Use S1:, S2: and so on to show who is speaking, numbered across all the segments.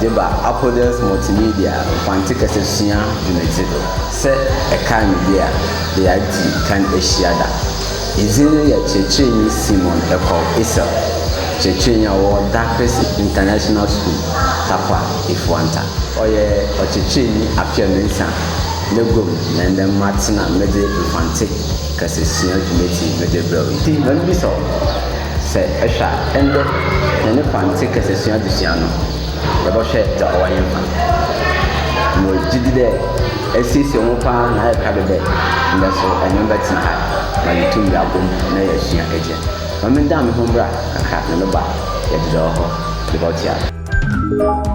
S1: dze ba Apodels Multimedia Mfantse Kasasua dwumadzi do. Sɛ ɛkaa me bi a, dɛ yɛadzi kan ehyia da. Edzin no yɛ Kyerɛkyerɛnyi Simon Ekɔw Esel, kyerɛkyerɛnyi a ɔwɔ Daakers International School, Tarkwa, Efuanta. Ɔyɛ ɔkyerɛkyerɛnyi afe anuensa n'eguam na ndɛ matsena medze Mfantse Kasasua dwumadzi medze rebrɛ wo yi. Ntsi, mebisa wo, Sɛ ehwɛ a, ndɛ hɛn Mfantse kasasua adzesua no, yɛbɔhwɛ dza ɔwɔ hɛnfa. Mowɔ gyedzi dɛ esiesie woho paa na ayɛ krado dɛ ndɛ so enye me bɛtse nkaa ma yeetum yɛabɔ mu na yeesua egya. Ma mendan moho mbra kakra na meba a, yɛdze dza ɔwɔ hɔ no bɔtoa do.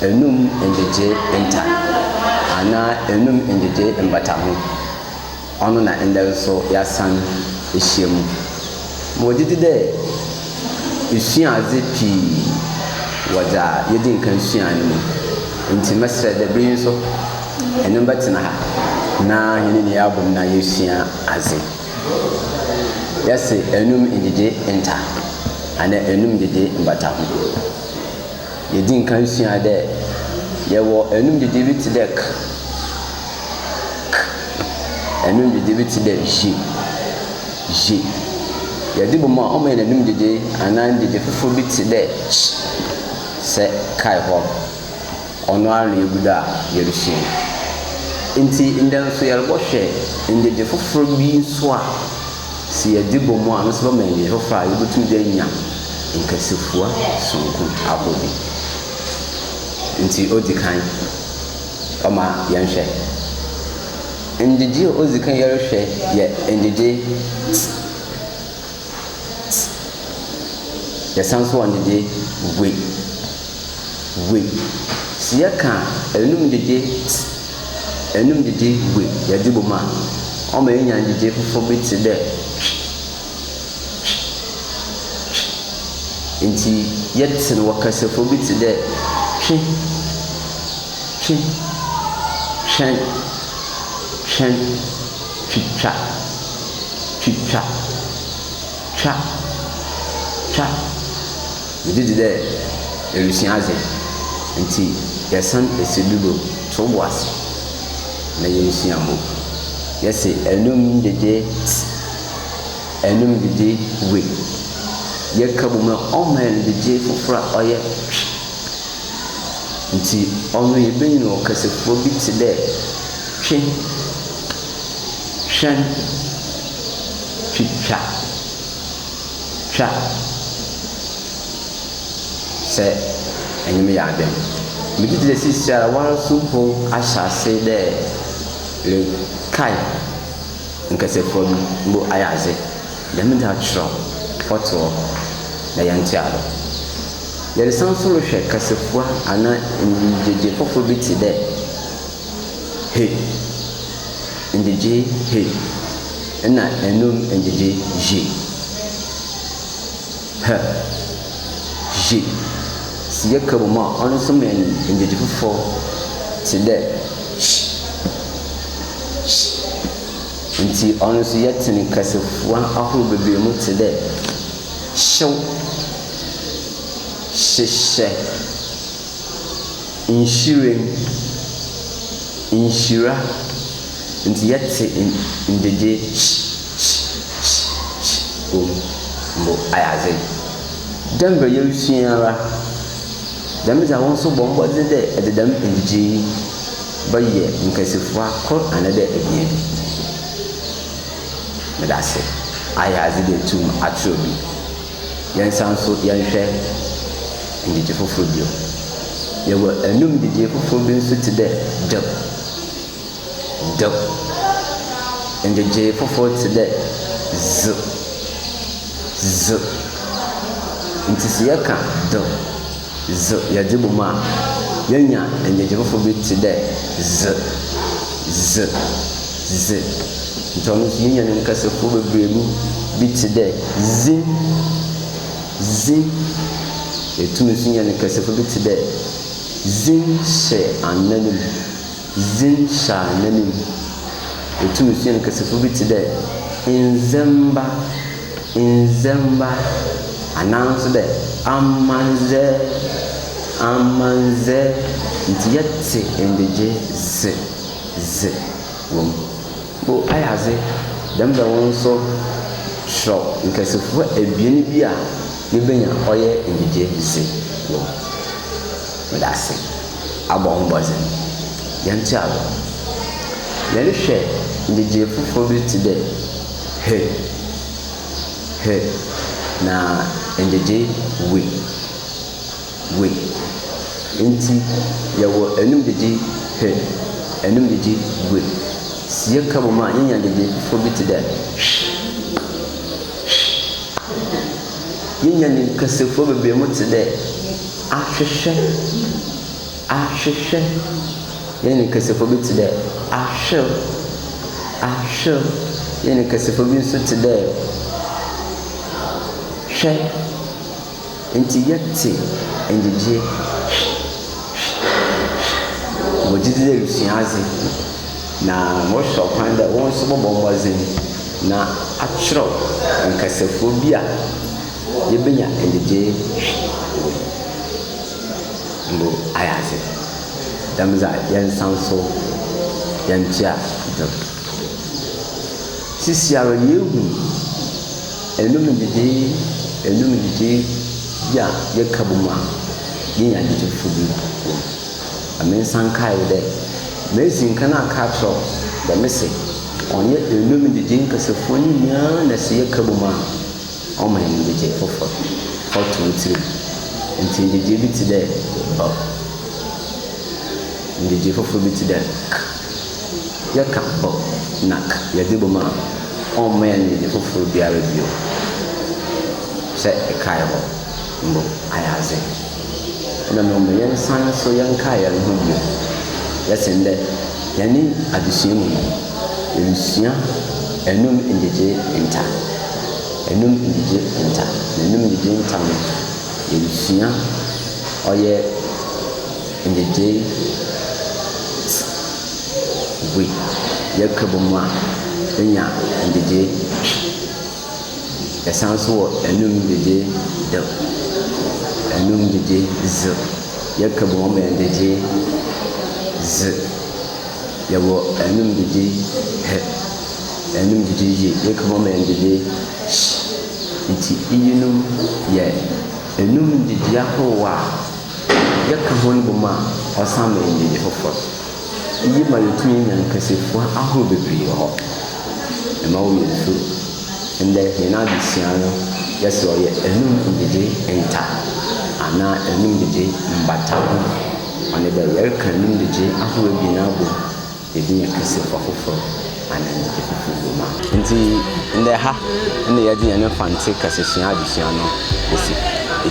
S1: Enum ngyegyee nta anaa enum ngyegyee mbataho, ɔno na ndɛ so yɛasan ehyia mu. Megye dzi dɛ isua adze pii wɔ dza yedzi nkan suae no mu, ntsi mɛserɛ dɛ ber yi so enye me bɛtsena ha na hɛn nyina yɛabɔ mu na yesua adze. Yɛse enum ngyegyee nta anaa enum ngyegyee mbataho. Yedii kan suaa dɛ yɛwɔ enumdidi bi tse dɛ k, k, enumdidi bi tse dɛ zhi, zhi. Yɛdze bɔ mu a, ɔma hɛn enumdidi anaa ndidi fofor bi tse dɛ ch. Sɛ kae hɔ, ɔno ara na yegu do a yerusua yi. Ntsi ndɛ so yɛrobɔhwɛ ndidi fofor bi so a. Sɛ yɛdze bɔ mu a, ɔno so bɛma hɛn hwɛfo a yebotum dze enya nkasafua soronko abɔ bi. Ntsi odzi kan, ɔma yɛnhwɛ. Ngyegyee a odzi kan yɛrohwɛ yɛ ngyegyee ts, ts. Yɛsan so wɔ ngyegyee we, we. Sɛ yɛkã enum ngyegyee ts. Enum gyedzi gu yɛdze bɔ mu a, ɔma yenya ngyedzi fofor bi tse dɛ twi, twi, twi. Ntsi yɛtse no wɔ kasafua bi tse dɛ twi, twi, twɛn, twɛn, twitwa, twitwa, twa, twa. Megye dzi dɛ erusua adze, ntsi yɛsan esi do do tow bo ase na yerusua mu. Yɛse enum gyegye ts, enum gyegye we. Yɛka bɔ mu a ɔma hɛn gyegye fofor a ɔyɛ twe. Ntsi ɔno yebenyin wɔ kasafua bi tse dɛ twe, twɛn, twitwa. twa sɛ enyim yɛ adwen. Megye dzi dɛ seseiara woara so mpo ahyɛ ase dɛ erekae nkasafua bi, mbo ayɛ adze. Dɛm ntsi akyerɛw ɔtse hɔ na yɛntoa do. Yɛresan so rohwɛ kasafua anaa nyigyegye fofor bi tse dɛ. he ngyegye he na enum ngyegye zhe he zhe si yɛka bɔ mu a, ɔno so ma hɛn ngyegye fofor tse dɛ sh sh. Ntsi ɔno so yɛtsen kasafua ahorow beberee mu tse dɛ hyew, hyehyɛ. Nhyiren, nhyira, nti yɛte ngyegyee hyi hyi hyi hyi wɔ mu mbo ayɛ adze. Dɛ mbrɛ yerusua yi ara, dɛm dze a wo so bɔ mbɔdzen dɛ edze dɛm ngyegyee yi bɛyɛ nkasafua kor anaadɛ ebien bi. Meda ase, ayɛ adze dɛ etum akyerɛw bi. Yɛnsan nso yɛnhwɛ ngyegye fofor bio. Yɛwɔ anum gyegye fofor bi nso tse dɛ dɛw. Dɛw. Ngyegye fofor tse dɛ dze. Dze. Ntsi sɛ yɛka dɛw. Dze yɛdze bɔ mu a, yenya nnyegye fofor bi tse dɛ dze, dze, dze. Ntsi ɔno so yenya no nkasafua beberebe bi tse dɛ dzi, dzi. Yetum so nya no nkasafua bi tse dɛ dzi hyɛ anan mu. dzin hyɛɛ n'anomu. Otum sua nkasafua bi tse dɛ ndzɛmba, ndzɛmba, anaa so dɛ amandzɛ, amandzɛ, ntsi yɛtse ndegye dze, dze wɔ mu. O ay'adze dɛm da wo nso kyerɛw nkɛsefua ebien bi a yebenya ɔyɛ enyigye dze wɔ mu. Medase abɔ ho mbɔdzen. Yɛntse agor. Yɛnhwɛ ngyegyee fofor bi tse dɛ he, he, na ngyegyee we. we. Ntsi yɛwɔ enum gyegye hwe, enum gyegye we. Si yɛka bɔ mu a, yenya gyegye fofor bi tse dɛ hwe, hwe. Yenya no nkasafua beberee mu tse dɛ ahwehwɛ, ahwehwɛ. Yenya no nkasafua bi tse dɛ ahwer, ahwer. Yenya no nkasafua bi so tse dɛ hwɛ. Enti yɛte nnyegye wɔ gyedzi dɛ erusua adze, na morohwɛ ɔkwan dɛ wo so bɔbɔ mbɔdzen na akyerɛw nkasafua bi a yebenya nnyegye wɔ mu. Mbo ayɛ adze dɛm dze a, yɛnsan so yɛntoa do. Seseiara yeehu. Ɛnum nnyigyei, ɛnum nnyigyei bi a yɛka bɔ mu a yɛnya anigye fo bi wɔ mu. Na me nsa nkae wo dɛ, medzi nkan aka akyerɛ wo dɛ mese ɔnnyɛ ɛnum nnyigyei nkasafua no nyina na sɛ yɛka bɔ mu a ɔma hɛn nyigyei fofor, ɔto wo tsir mu. Ntsi nyigyei bi tse dɛ 'b'. Nyigyei fofor bi tse dɛ 'k'. Yɛka ɔ nak yɛde bom a, ɔmma yɛn anigye foforo biara bio. Sɛ ɛkae hɔ mbo, ayɛ adze. Nna mbom ma yɛnsan so yɛnkae hɛnho bio. Yɛse ndɛ, hɛn adzesua mu no, yerusua enum ngyegyee nta. Enum ngyegye nta. Na enum ngyegye nta no, yerusua ɔyɛ. In the day we Yɛka bɔ mu a, yɛnya nnyegyeɛ. Yɛsan nso wɔ anum nnyegyeɛ the anum nnyegyeɛ dze. Yɛka bɔ mu a, ɔma yɛ nnyegyeɛ dze. Yɛwɔ anum nnyegyeɛ hɛ, anum nnyegyeɛ ye. Yɛka bɔ mu a, ɔma yɛ nnyegyeɛ hye. Nti iyinom yɛ anum nnyegyeɛ ahorow a. Yɛka hɔn bɔ mu a, ɔsan ma yenya edzi fofor. Iyi ma yetum nya nkasafua ahorow beberee wɔ hɔ. Mma wo werɛ mmfir, ndɛ hɛn adzesua no, yɛse ɔyɛ enum ngyegyee nta anaa enum ngyegyee mbataho. Ɔnye dɛ yɛreka enum ngyegyee ahorow ebien abɔ mu. Yɛdi no pi se ɔfoforɔ anan apipi wom a. Nti ndɛ ha na yɛdze hɛn Mfantse kasasua adzesua no besi.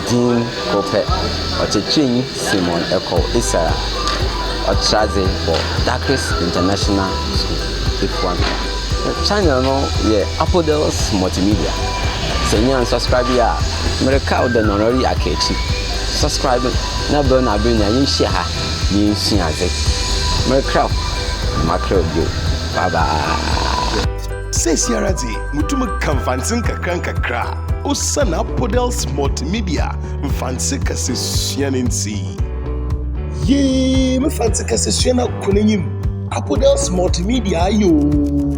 S1: Dzin kor pɛ, Ɔkyerɛkyerɛnyi Simon Ekow Isar a ɔtra adze wɔ Dakris International School, Efuapia. Channel no yɛ Apodels Multimedia. Sɛ innya annsubscribe yi a, mereka wo dɛ nɔnɔr yi aka ekyir. Subscribe na bɛn no aber nyina yenhyia ha. yensua adze. Merekra o, na makra o bio. Bye bye. Sesiara dze mutum ka Mfantse nkakrankakra osian Apodels Multimedia Mfantse kasasua no ntsi. Yee, me Mfantse kasasua no akɔ n'enyim, Apodels Multimedia aye oo.